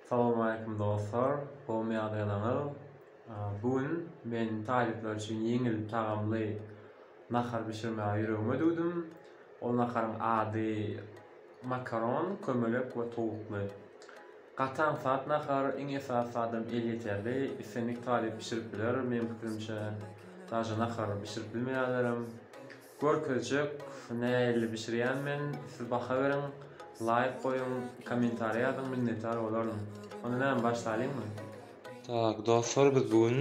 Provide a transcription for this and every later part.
Salowmaleýkim dostlar! Gowmy ýagdaýlaryňyz? Bu gün men talyplar üçin ýeňil tagamly nahar bişirmäge ýüregime düwdüm. Ol naharyň ady makaron, kömelek we towukly. Gaty aňsat nahar, iň esasy zadam elýeterli. Islendik talyp bişirip biler, meň pikirimçe, daže nahar bişirip bilmeýänlerem. Görkezjek nähili bişirýän men siz baha beriň laýk goýuň komentariý ýazyň minnetdar bolaryn. Onda näme başlalyňmy. Tak dostlar biz bu gün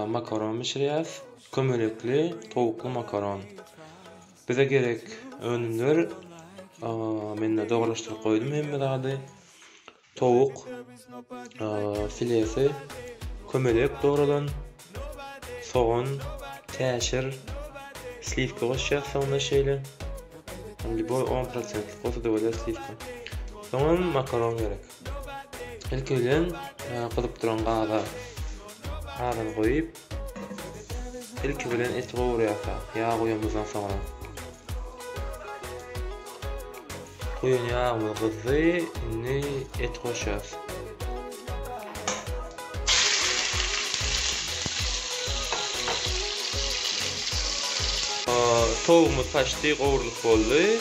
makaron bişirýäs kömelekli towukly makaron bize gerek önümler mende dogarlaşdyryp goýdum hemme zady Towuk filesi, kömelek dogralan sogan, täşir, sliwka goşýas soňra şeýle. Lýuboý on prosentlik bolsa-da bolýar sliwka. Soňam makaron gerek. Ilki bilen gyzyp duran gaza gazany goýup, Ilki bilen eti gowurýarka, ýag guýanymyzdan soňra. Guýan ýagymyz gyzdy, indi et goşýarys. Towugymyz paçti gowrulyp boldy.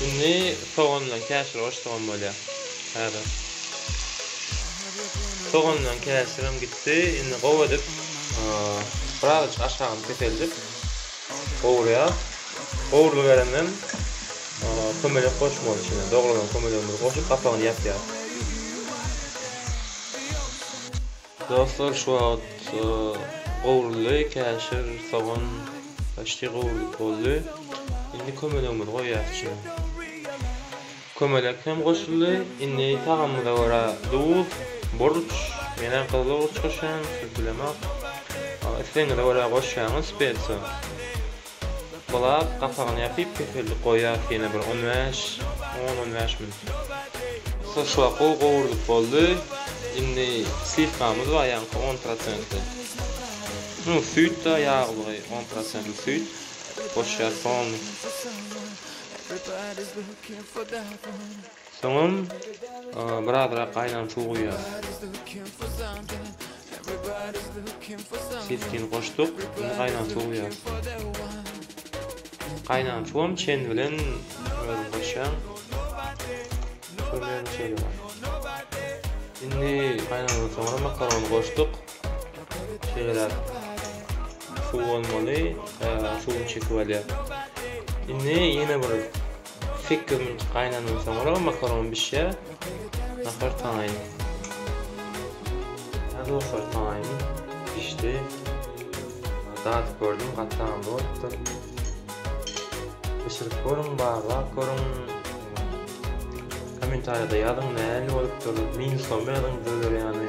Indi sogan bilen käşir goşsagam bolýar. Häzir. Sogan bilen käşirem gitdi. Etdi indi gowy edip birazajyk aşagyny peseldip gowurýas. Gowurly berenden kömelek goşmaly içine. Dogrulan kömelegimizi goşup gapagyny ýapýas. Dostlar şu wagt gowurly käşir, sogan başti gowurlyp boldy. Indi kömelegimizi goýýas içine. Kömelek hem goşuldy. Indi tagamyza görä duz, burç, menä gyzyl burç goşýan, siz bilemok. Islegiňize görä goşýaňyz spesiýa. Bulap, gapagyny ýapyp, kesellik goýýas ýene bir on bäş, on-on bäş minut. Şurşuwak gowy gowrulyp boldy. Indi sliwkamyz bar ýaňky on prosentli. Süýt-de ýaglygy on prosentli süýt goşýas polnyý. Soňam birazrak gaýnan suw guýýarys. Sitkin goşduk, indi gaýnan suw guýýarys. Gaýnan suwam çen bilen özüm goşýan. Indi gaýnandan soňra makarony goşduk. Şeýleräk. Şu bolmaly. Şu çekip alýar. Indi ýene bir 8 minut gaýnandan soňra makaron bişýär. Nahar taýyn. Dostlar taýyn bişdi. Dad gördüm, gatam bolupdyr. Bişirip görüň, barlap görüň. Kommentariýada ýazyň, nähili bolupdyr. Minusda ýazyň, döner ýany.